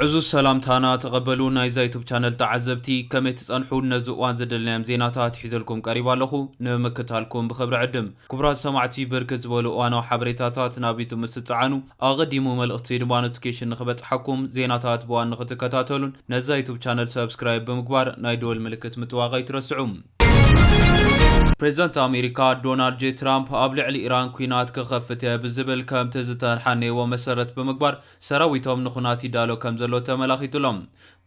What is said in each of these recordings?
ዕዙዝ ሰላምታና ተቐበሉ ናይዛ ዩቱብ ቻነል ተዓዘብቲ ከመይ ትጸንሑ ነዚ እዋን ዘደልናዮም ዜናታት ሒዘልኩም ቀሪባ ኣለኹ ንምክታልኩም ብኽብሪ ዕድም ክቡራት ሰማዕቲ ብርክት ዝበሉ እዋናዊ ሓበሬታታት ናብ ዩቱብ ምስ ትጸዓኑ ኣቐዲሙ መልእኽቲ ድማ ኖቲፊኬሽን ንኽበጽሓኩም ዜናታት ብዋን ንኽትከታተሉን ነዛ ዩቱብ ቻነል ሰብስክራይብ ብምግባር ናይ ደወል ምልክት ምጥዋቕ ኣይትረስዑ ፕሬዝደንት ኣሜሪካ ዶናልድ ጄ ትራምፕ ኣብ ልዕሊ ኢራን ኲናት ክኸፍት እየ ብዝብል ከምቲ ዝተሓነይዎ መሰረት ብምግባር ሰራዊቶም ንኹናት ይዳሎ ከምዘሎ ተመላኺቱ ኣሎ።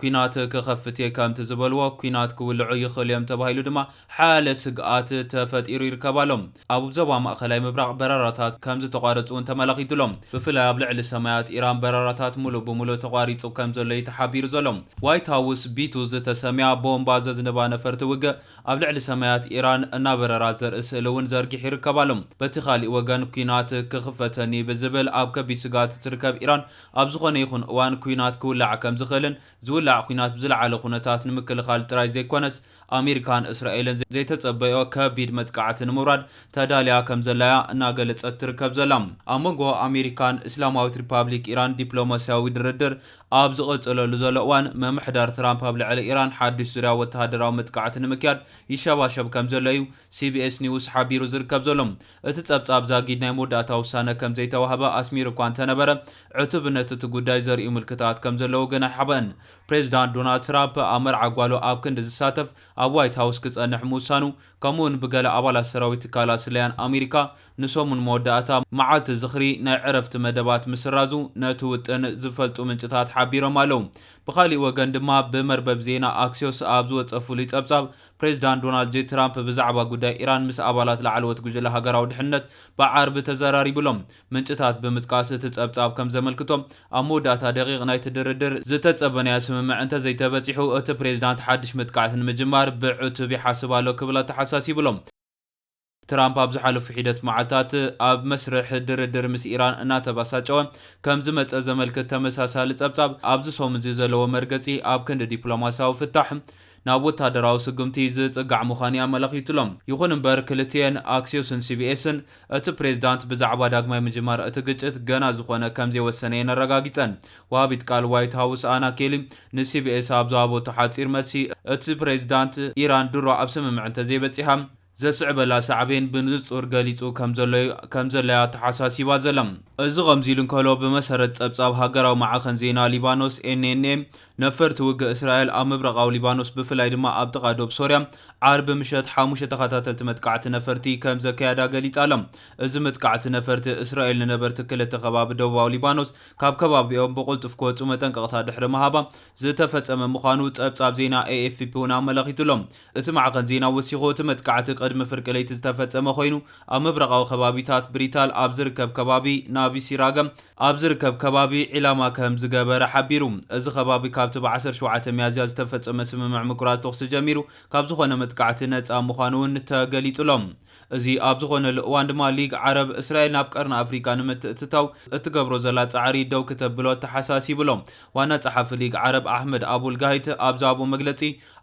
ኲናት ክኸፍት እየ ከምቲ ዝበልዎ ኲናት ክውልዑ ይኽእሉ እዮም ተባሂሉ ድማ ሓያለ ስግኣት ተፈጢሩ ይርከብ ኣሎ። ኣብ ዞባ ማእከላይ ምብራቕ በረራታት ከም ዝተቋረጹ እውን ተመላኺቱ ኣሎ። ብፍላይ ኣብ ልዕሊ ሰማያት ኢራን በረራታት ምሉእ ብምሉእ ተቋሪጹ ከም ዘሎ እዩ ተሓቢሩ ዘሎ። ዋይት ሃውስ፣ ቢቱ ዝተሰምያ ቦምባ ዘዝንባ ነፈርቲ ውግእ ኣብ ልዕሊ ሰማያት ኢራን እናበረራ ዘርኢ ስእሊ እውን ዘርጊሑ ይርከብ ኣሎ። በቲ ካልእ ወገን፣ ኲናት ክኽፈተኒ ብዝብል ኣብ ከቢድ ስግኣት እትርከብ ኢራን፣ ኣብ ዝኾነ ይኹን እዋን ኲናት ክውላዕ ከም ዝኽእልን ዝውላዕ ኲናት ብዝለዓለ ኩነታት ንምክልኻል ጥራይ ዘይኮነስ፣ ኣሜሪካን እስራኤልን ዘይተጸበይኦ ከቢድ መጥቃዕቲ ንምውራድ ተዳልያ ከምዘላ'ያ እናገለጸት ትርከብ ዘላ። ኣብ መንጎ ኣሜሪካን እስላማዊት ሪፓብሊክ ኢራን ዲፕሎማስያዊ ድርድር ኣብ ዝቕጽለሉ ዘሎ እዋን፣ ምምሕዳር ትራምፕ ኣብ ልዕሊ ኢራን ሓድሽ ዙርያ ወተሃደራዊ መጥቃዕቲ ንምክያድ ይሸባሸብ ከምዘሎ'ዩ ሲቢኤስ ኒውስ ሓቢሩ ዝርከብ ዘሎ። እቲ ጸብጻብ ዛጊድ ናይ መወዳእታ ውሳነ ከምዘይተዋህበ ኣስሚሩ'ኳ እንተነበረ፣ ዕቱብነት እቲ ጉዳይ ዘርእዩ ምልክታት ከምዘለዉ ግን ኣይሓበእን። ፕሬዝዳንት ዶናልድ ትራምፕ ኣብ መርዓ ጓሉ ኣብ ክንዲ ዝሳተፍ ኣብ ዋይት ሃውስ ክጸንሕ ምውሳኑ ከምኡ'ውን ብገለ ኣባላት ሰራዊት ትካላት ስለያን ኣሜሪካ ንሰሙን መወዳእታ መዓልቲ ዝኽሪ ናይ ዕረፍቲ መደባት ምስራዙ ነቲ ውጥን ዝፈልጡ ምንጭታት ሓቢሮም ኣለው። ብኻሊእ ወገን ድማ ብመርበብ ዜና ኣክሲዮስ ኣብ ዝወጸ ፍሉይ ጸብጻብ ፕሬዝዳንት ዶናልድ ጄ ትራምፕ ብዛዕባ ጉዳይ ኢራን ምስ ኣባላት ላዕለዎት ጉጅለ ሃገራዊ ድሕንነት ብዓርቢ ተዘራሪቡ'ሎ። ምንጭታት ብምጥቃስ እቲ ጸብጻብ ከም ዘመልክቶ፣ ኣብ መወዳእታ ደቒቕ ናይቲ ድርድር፣ ዝተጸበናዮ ስምምዕ እንተዘይተበጺሑ፣ እቲ ፕሬዝዳንት ሓድሽ መጥቃዕቲ ንምጅማር ብዕቱብ ይሓስብ ኣሎ ክብል ኣተሓሳሲቡ ኣሎ። ትራምፕ ኣብ ዝሓለፉ ሒደት መዓልታት ኣብ መስርሕ ድርድር ምስ ኢራን እናተበሳጨወ ከም ዝመጸ ዘመልክት ተመሳሳሊ ጸብጻብ፣ ኣብዚ ሰሙን'ዚ ዘለዎ መርገጺ ኣብ ክንዲ ዲፕሎማስያዊ ፍታሕ፣ ናብ ወታደራዊ ስጉምቲ ዝጽጋዕ ምዃኑ'ዩ ኣመላኺቱ'ሎ። ይኹን እምበር ክልቲኤን ኣክሲዮስን ሲቢኤስን እቲ ፕሬዝዳንት ብዛዕባ ዳግማይ ምጅማር እቲ ግጭት ገና ዝኾነ ከምዘይወሰነ'የን ኣረጋጊጸን። ወሃቢት ቃል ዋይት ሃውስ ኣና ኬሊ ንሲቢኤስ ኣብ ዝሃበቶ ሓጺር መልሲ እቲ ፕሬዝዳንት ኢራን ድሮ ኣብ ስምምዕ እንተዘይበጺሓ ዘስዕበላ ሳዕቤን ብንጹር ገሊጹ ከምዘሎ'ዩ ኣተሓሳሲባ ዘላ። እዚ ከምዚሉ እንከሎ፣ ብመሰረት ጸብጻብ ሃገራዊ ማዕኸን ዜና ሊባኖስ፣ NNA፣ ነፈርቲ ውግእ እስራኤል ኣብ ምብራቓዊ ሊባኖስ ብፍላይ ድማ ኣብ ጥቓ ዶብ ሶርያ ዓርቢ ምሸት ሓሙሽተ ተኸታተልቲ መጥቃዕቲ ነፈርቲ ከምዘካየዳ ገሊጻ'ላ። እዚ መጥቃዕቲ ነፈርቲ እስራኤል ንነበርቲ ክልተ ከባቢ ደቡባዊ ሊባኖስ ካብ ከባቢኦም ብቕልጡፍ ክወጹ መጠንቀቕታ ድሕሪ ምሃባ ዝተፈጸመ ምዃኑ ጸብጻብ ዜና ኤኤፍፒ'ውን ኣመላኺቱ'ሎ። እቲ ማዕኸን ዜና ወሲኹ፣ እቲ መጥቃዕቲ ቅድሚ ፍርቂ ለይቲ ዝተፈጸመ ኮይኑ፣ ኣብ ምብራቓዊ ከባቢታት ብሪታል ኣብ ዝርከብ ከባቢ ናቢሲራገም ኣብ ዝርከብ ከባቢ ዒላማ ከም ዝገበረ ሓቢሩ። እዚ ከባቢ ካብቲ ብ ዓሰርተ ሸውዓተ ሚያዝያ ዝተፈጸመ ስምምዕ ምቁራጽ ተኹሲ ጀሚሩ ካብ ዝኾነ መጥቃዕቲ ነጻ ምዃኑ'ውን ተገሊጹ'ሎ። እዚ ኣብ ዝኾነሉ እዋን ድማ ሊግ ዓረብ፣ እስራኤል ናብ ቀርኒ ኣፍሪቃ ንምትእትታው እትገብሮ ዘላ ጻዕሪ ደው ክተብሎ ኣተሓሳሲቡ'ሎ። ዋና ጸሓፊ ሊግ ዓረብ ኣሕመድ ኣቡል ጋሂት ኣብ ዝሃቦ መግለጺ፣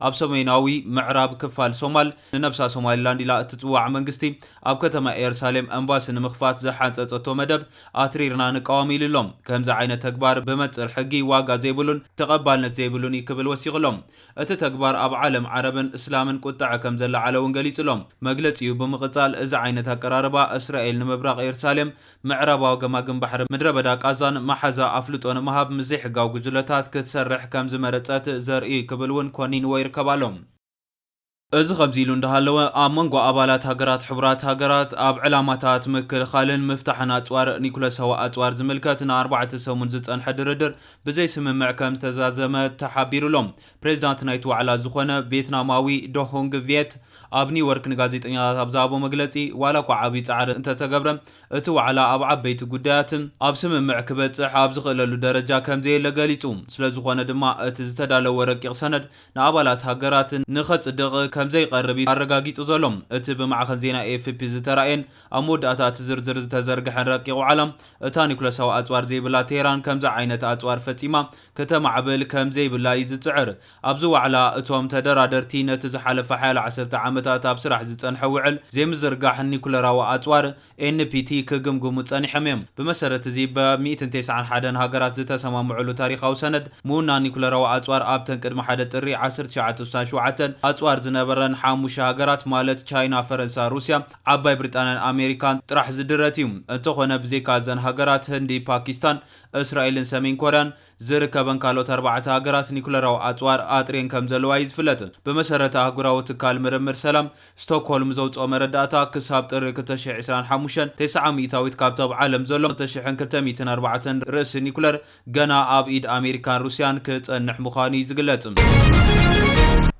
ኣብ ሰሜናዊ ምዕራብ ክፋል ሶማል፣ ንነብሳ ሶማሊላንድ ኢላ እትጽዋዕ መንግስቲ፣ ኣብ ከተማ ኤርሳሌም ኤምባሲ ንምኽፋት ዝሓንጸጸቶ መደብ ኣትሪርና ንቃወም ኢሉ ኣሎ። ከምዚ ዓይነት ተግባር ብመንጽር ሕጊ ዋጋ ዘይብሉን ተቐባልነት ዘይብሉን እዩ ክብል ወሲኹ ኣሎ። እቲ ተግባር ኣብ ዓለም ዓረብን እስላምን ቁጠዐ ከም ዘለዓለ'ውን ገሊጹ ኣሎ። መግለጺኡ ብምቕጻል እዚ ዓይነት ኣቀራርባ እስራኤል ንምብራቕ ኤርሳሌም ምዕራባዊ ገማግም ባሕሪ ምድረበዳ ቃዛን መሓዛ ኣፍልጦ ንምሃብ ምስ ዘይሕጋዊ ጉጅለታት ክትሰርሕ ከም ዝመረጸት ዘርእይ'ዩ ክብል እውን ኮኒንዎ ይርከብ ኣሎ። እዚ ከምዚ ኢሉ እንዳሃለወ፣ ኣብ መንጎ ኣባላት ሃገራት ሕቡራት ሃገራት ኣብ ዕላማታት ምክልኻልን ምፍታሕን ኣጽዋር ኒኩለሳዊ ኣጽዋር ዝምልከት ንኣርባዕተ ሰሙን ዝጸንሐ ድርድር ብዘይስምምዕ ከም ዝተዛዘመ ተሓቢሩ ኣሎ። ፕሬዚዳንት ናይቲ ዋዕላ ዝኾነ ቬትናማዊ ዶ ሆንግ ቪየት ኣብ ኒውዮርክ ንጋዜጠኛታት ኣብ ዝሃቦ መግለፂ ዋላ እኳ ዓብዪ ፃዕሪ እንተተገብረ እቲ ዋዕላ ኣብ ዓበይቲ ጉዳያት ኣብ ስምምዕ ክበፅሕ ኣብ ዝኽእለሉ ደረጃ ከምዘየለ ገሊፁ። ስለዝኾነ ድማ እቲ ዝተዳለወ ረቂቕ ሰነድ ንኣባላት ሃገራት ንኸፅድቕ ከምዘይቐርብ እዩ ኣረጋጊፁ ዘሎ። እቲ ብማዕኸን ዜና ኤኤፍፒ ዝተራእየን ኣብ መወዳእታ እቲ ዝርዝር ዝተዘርገሐን ረቂቕ ዋዕላ እታ ኒውክለሳዊ ኣፅዋር ዘይብላ ቴህራን ከምዚ ዓይነት ኣፅዋር ፈፂማ ከተማዕብል ከም ዘይብላ እዩ ዝጽዕር። ኣብዚ ዋዕላ፣ እቶም ተደራደርቲ ነቲ ዝሓለፋ ሓያሎ ዓሰርተ ዓመታት ኣብ ስራሕ ዝጸንሐ ውዕል ዘይምዝርጋሕ ኒዩክለራዊ ኣጽዋር፣ NPT፣ ክግምግሙ ጸኒሖም እዮም። ብመሰረት እዚ ብ ሚእትን ተስዓን ሓደን ሃገራት ዝተሰማምዑሉ ታሪኻዊ ሰነድ፣ ምውናን ኒዩክለራዊ ኣጽዋር ኣብተን ቅድሚ ሓደ ጥሪ ዓሰርተ ትሽዓተ ወሳን ሸውዓተን ኣጽዋር ዝነበረን ሓሙሽተ ሃገራት ማለት ቻይና፣ ፈረንሳ፣ ሩስያ፣ ዓባይ ብሪጣንያን ኣሜሪካን ጥራሕ ዝድረት እዩ። እንተኾነ ብዘይካ እዘን ሃገራት፣ ህንዲ፣ ፓኪስታን፣ እስራኤልን ሰሜን ኮርያን ዝርከበን ካልኦት ኣርባዕተ ሃገራት ኒኩለራዊ ኣጽዋር ኣጥርየን ከም ዘለዋ እዩ ዝፍለጥ። ብመሰረት ኣህጉራዊ ትካል ምርምር ሰላም ስቶክሆልም ዘውጽኦ መረዳእታ፣ ክሳብ ጥሪ ክልተ ሽሕ ዕስራን ሓሙሽተን፣ ተስዓ ሚእታዊት ካብቲ ኣብ ዓለም ዘሎ ክልተ ሽሕን ክልተ ሚእትን ኣርባዕተን ርእሲ ኒኩለር ገና ኣብ ኢድ ኣሜሪካን ሩስያን ክጸንሕ ምዃኑ እዩ ዝግለጽ።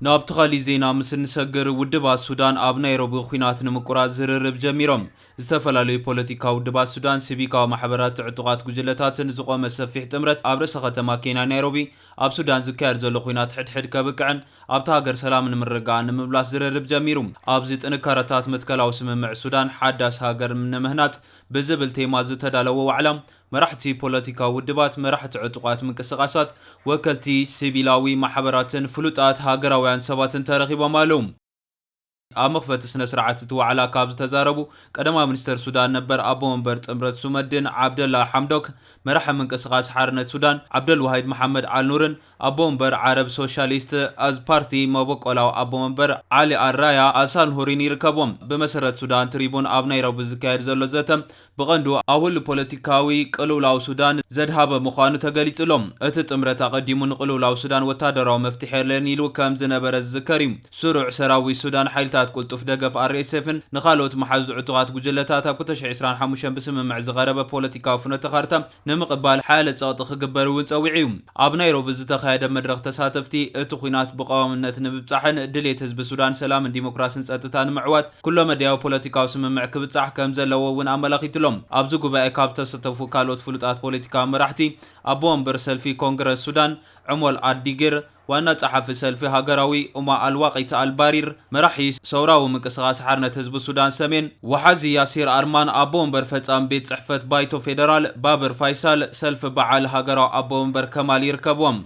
ናብቲ ካሊእ ዜና ምስ እንሰግር፣ ውድባት ሱዳን ኣብ ናይሮቢ ኲናት ንምቁራጽ ዝርርብ ጀሚሮም። ዝተፈላለዩ ፖለቲካዊ ውድባት ሱዳን፣ ሲቪካዊ ማሕበራት፣ ዕጡቓት ጉጅለታትን ዝቖመ ሰፊሕ ጥምረት ኣብ ርእሰ ከተማ ኬንያ ናይሮቢ ኣብ ሱዳን ዝካየድ ዘሎ ኹናት ሕድሕድ ከብቅዕን ኣብታ ሃገር ሰላምን ምርግጋእን ንምምላስ ዝርርብ ጀሚሩ። ኣብዚ ጥንካረታት መትከላዊ ስምምዕ ሱዳን ሓዳስ ሃገር ንምህናጽ ብዝብል ቴማ ዝተዳለወ ዋዕላ መራሕቲ ፖለቲካዊ ውድባት፣ መራሕቲ ዕጡቓት ምንቅስቓሳት፣ ወከልቲ ሲቪላዊ ማሕበራትን ፍሉጣት ሃገራውያን ሰባትን ተረኺቦም ኣለዉ። ኣብ መኽፈቲ ስነ ስርዓት እቲ ዋዕላ ካብ ዝተዛረቡ ቀዳማይ ሚኒስተር ሱዳን ነበር ኣቦ መንበር ጥምረት ሱመድን ዓብደላ ሓምዶክ፣ መራሒ ምንቅስቓስ ሓርነት ሱዳን ዓብደልዋሂድ መሓመድ ኣልኑርን ኣቦ መንበር ዓረብ ሶሻሊስት ኣዝ ፓርቲ መበቆላዊ ኣቦ መንበር ዓሊ ኣል ራያ ኣል ሳልሁሪን ይርከብዎም። ብመሰረት ሱዳን ትሪቡን ኣብ ናይሮቢ ዝካየድ ዘሎ ዘተ ብቐንዱ ኣውል ፖለቲካዊ ቅልውላው ሱዳን ዘድሃበ ምዃኑ ተገሊጹ ኣሎ። እቲ ጥምረት ኣቐዲሙ ንቕልውላው ሱዳን ወተሃደራዊ መፍትሕ የለን ኢሉ ከም ዝነበረ ዝዝከር እዩ። ስሩዕ ሰራዊት ሱዳን፣ ሓይልታት ቅልጡፍ ደገፍ፣ ኣርኤስኤፍን ንኻልኦት መሓዙት ዕጡቓት ጉጅለታት ኣብ ክልተ ሽሕ ዕስራን ሓሙሽተን ብስምምዕ ዝቐረበ ፖለቲካዊ ፍኖተ ካርታ ንምቕባል ሓያለ ጸቕጢ ክግበር እውን ጸዊዑ'ዩ። ኣብ ናይሮቢ ዝተኻየደ መድረኽ ተሳተፍቲ፣ እቲ ኵናት ብቐዋምነት ንምብጻሕን ድሌት ህዝቢ ሱዳን ሰላምን ዲሞክራስን ጸጥታ ንምዕዋት ኩለመዳያዊ ፖለቲካዊ ስምምዕ ክብጻሕ ከምዘለዎ እውን ኣመላኺቱ'ሎ። ኣብዚ ጉባኤ ካብ ዝተሰተፉ ካልኦት ፍሉጣት ፖለቲካዊ መራሕቲ፣ ኣቦ ወንበር ሰልፊ ኮንግረስ ሱዳን ዑሞል ኣልዲጊር፣ ዋና ጸሓፊ ሰልፊ ሃገራዊ ኡማ ኣል-ዋቂት ኣል-ባሪር፣ መራሒ ሰውራዊ ምንቅስቓስ ሓርነት ህዝቢ ሱዳን ሰሜን፣ ወሓዚ ያሲር ኣርማን፣ ኣቦ ወንበር ፈጻሚ ቤት ጽሕፈት ባይቶ ፌደራል ባብር ፋይሳል፣ ሰልፊ በዓል ሃገራዊ ኣቦ ወንበር ከማል ይርከብዎም።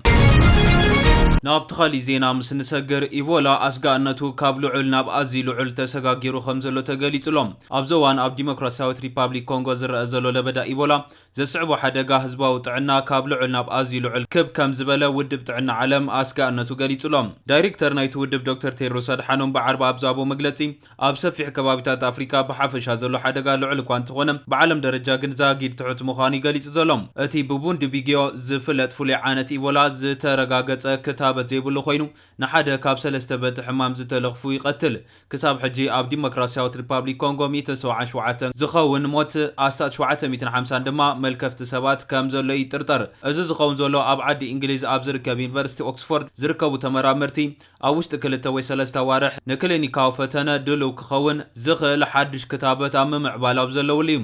ናብቲ ካሊእ ዜና ምስ ንሰግር፣ ኢቮላ ኣስጋእነቱ ካብ ልዑል ናብ ኣዝዩ ልዑል ተሰጋጊሩ ከምዘሎ ተገሊጹ'ሎ። ኣብዚ እዋን ኣብ ዲሞክራሲያዊት ሪፓብሊክ ኮንጎ ዝረኣ ዘሎ ለበዳ ኢቮላ ዘስዕቦ ሓደጋ ህዝባዊ ጥዕና ካብ ልዑል ናብ ኣዝዩ ልዑል ክብ ከም ዝበለ ውድብ ጥዕና ዓለም ኣስጋእነቱ ገሊጹ'ሎ። ዳይሬክተር ናይቲ ውድብ ዶክተር ቴድሮስ ኣድሓኖም ብዓርቢ ኣብ ዝሃቦ መግለጺ፣ ኣብ ሰፊሕ ከባቢታት ኣፍሪቃ ብሓፈሻ ዘሎ ሓደጋ ልዑል እኳ እንተኾነ፣ ብዓለም ደረጃ ግን ዛጊድ ትሑት ምዃኑ'ዩ ገሊጹ ዘሎ። እቲ ብቡንዲቢግዮ ዝፍለጥ ፍሉይ ዓነት ኢቦላ ዝተረጋገጸ ክታበት ዘይብሉ ኮይኑ፣ ንሓደ ካብ ሰለስተ በቲ ሕማም ዝተለኽፉ ይቐትል። ክሳብ ሕጂ ኣብ ዲሞክራሲያዊት ሪፓብሊክ ኮንጎ ሚእትን ሰብዓን ሸውዓተን ዝኸውን ሞት፣ ኣስታት ሸውዓተ ሚእትን ሓምሳን ድማ መልከፍቲ ሰባት ከምዘሎ ይጥርጠር። እዚ ዝኸውን ዘሎ ኣብ ዓዲ ኢንግሊዝ ኣብ ዝርከብ ዩኒቨርሲቲ ኦክስፎርድ ዝርከቡ ተመራመርቲ ኣብ ውሽጢ ክልተ ወይ ሰለስተ ኣዋርሕ ንክሊኒካዊ ፈተነ ድሉው ክኸውን ዝኽእል ሓድሽ ክታበት ኣብ ምምዕባል ኣብ ዘለውሉ እዩ።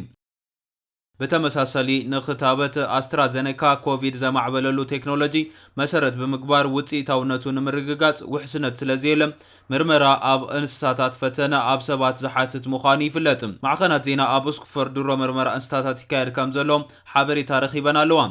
ብተመሳሰሊ ንክታበት ኣስትራዘነካ ኮቪድ ዘማዕበለሉ ቴክኖሎጂ መሰረት ብምግባር ውፅኢታውነቱ ንምርግጋፅ ውሕስነት ስለዘየለ ምርመራ ኣብ እንስሳታት ፈተነ ኣብ ሰባት ዝሓትት ምዃኑ ይፍለጥ። ማዕኸናት ዜና ኣብ ኡስክፎርድ ድሮ ምርመራ እንስሳታት ይካየድ ከምዘሎ ሓበሬታ ረኺበን ኣለዋ።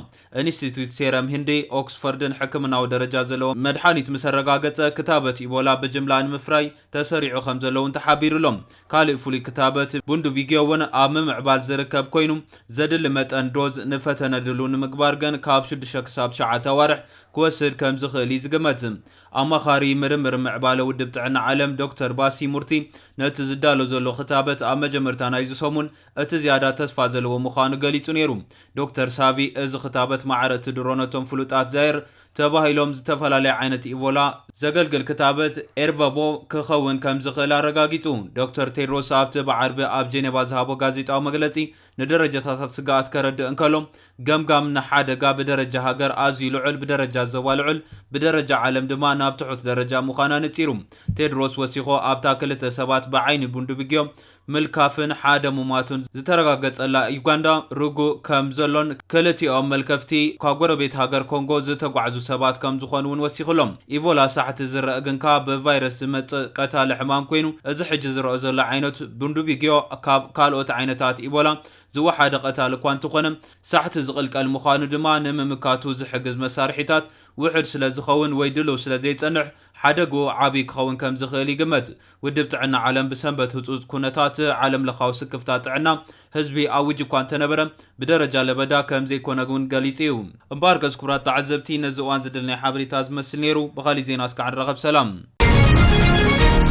ኢንስቲትዩት ሴረም ህንዲ፣ ኦክስፎርድን ሕክምናዊ ደረጃ ዘለዎ መድሓኒት ምሰረጋገፀ ክታበት ኢቦላ ብጅምላ ንምፍራይ ተሰሪዑ ከምዘሎ'ውን ተሓቢሩ'ሎ። ካልእ ፍሉይ ክታበት ቡንድቢግዮ'ውን ኣብ ምምዕባል ዝርከብ ኮይኑ፣ ዘድሊ መጠን ዶዝ ንፈተነ ድሉው ንምግባር ግን ካብ ሽዱሽተ ክሳብ ትሽዓተ ኣዋርሕ ክወስድ ከምዝኽእል'ዩ ዝግመት። ኣማኻሪ ምርምር ምዕባለ ውድብ ጥዕና ዓለም ዶክተር ባሲ ሙርቲ ነቲ ዝዳሎ ዘሎ ክታበት ኣብ መጀመርታ ናይዚ ሰሙን እቲ ዝያዳ ተስፋ ዘለዎ ምዃኑ ገሊጹ ነይሩ። ዶክተር ሳቪ እዚ ክታበት ማዕረ'ቲ ድሮ ነቶም ፍሉጣት ዛይር ተባሂሎም ዝተፈላለዩ ዓይነት ኢቮላ ዘገልግል ክታበት፣ ኤርቨቦ፣ ክኸውን ከምዝኽእል ኣረጋጊጹ። ዶክተር ቴድሮስ ኣብቲ ብዓርቢ ኣብ ጄኔቫ ዝሃቦ ጋዜጣዊ መግለጺ ንደረጃታታት ስግኣት ከረድእ እንከሎ፣ ገምጋም ንሓደጋ ብደረጃ ሃገር ኣዝዩ ልዑል፣ ብደረጃ ዞባ ልዑል፣ ብደረጃ ዓለም ድማ ናብ ትሑት ደረጃ ምዃና ነጺሩ። ቴድሮስ ወሲኾ ኣብታ ክልተ ሰባት ብዓይኒ ቡንዱብግዮ፣ ምልካፍን ሓደ ሙማቱን ዝተረጋገጸላ ዩጋንዳ ርጉእ ከም ዘሎን ክልቲኦም መልከፍቲ ኳብ ጎረቤት ሃገር ኮንጎ ዝተጓዕዙ ሰባት ከም ዝኾኑ'ውን ወሲኹ ኣሎ። ኢቮላ ሳሕቲ ዝረእ ግንካ ብቫይረስ ዝመጽእ ቀታሊ ሕማም ኮይኑ እዚ ሕጂ ዝረኦ ዘሎ ዓይነት ቡንዱቢግዮ ካብ ካልኦት ዓይነታት ኢቦላ ዝወሓደ ቀታሊ እኳ እንተኾነ ሳሕቲ ዝቕልቀል ምዃኑ ድማ ንምምካቱ ዝሕግዝ መሳርሒታት ውሑድ ስለ ዝኸውን ወይ ድሉው ስለ ዘይጸንሕ ሓደግኡ ዓብዪ ክኸውን ከም ዝኽእል ይግመት። ውድብ ጥዕና ዓለም ብሰንበት ህጹጽ ኩነታት ዓለምለኻዊ ስክፍታ ጥዕና ህዝቢ ኣዊጁ እኳ እንተነበረ፣ ብደረጃ ለበዳ ከም ዘይኮነ እውን ገሊጹ እዩ። እምበኣርከስ ክቡራት ተዓዘብቲ ነዚ እዋን ዝድልናዮ ሓበሬታ እዚ ዝመስል ነይሩ። ብኻሊእ ዜና እስካዕ ንራኸብ ሰላም።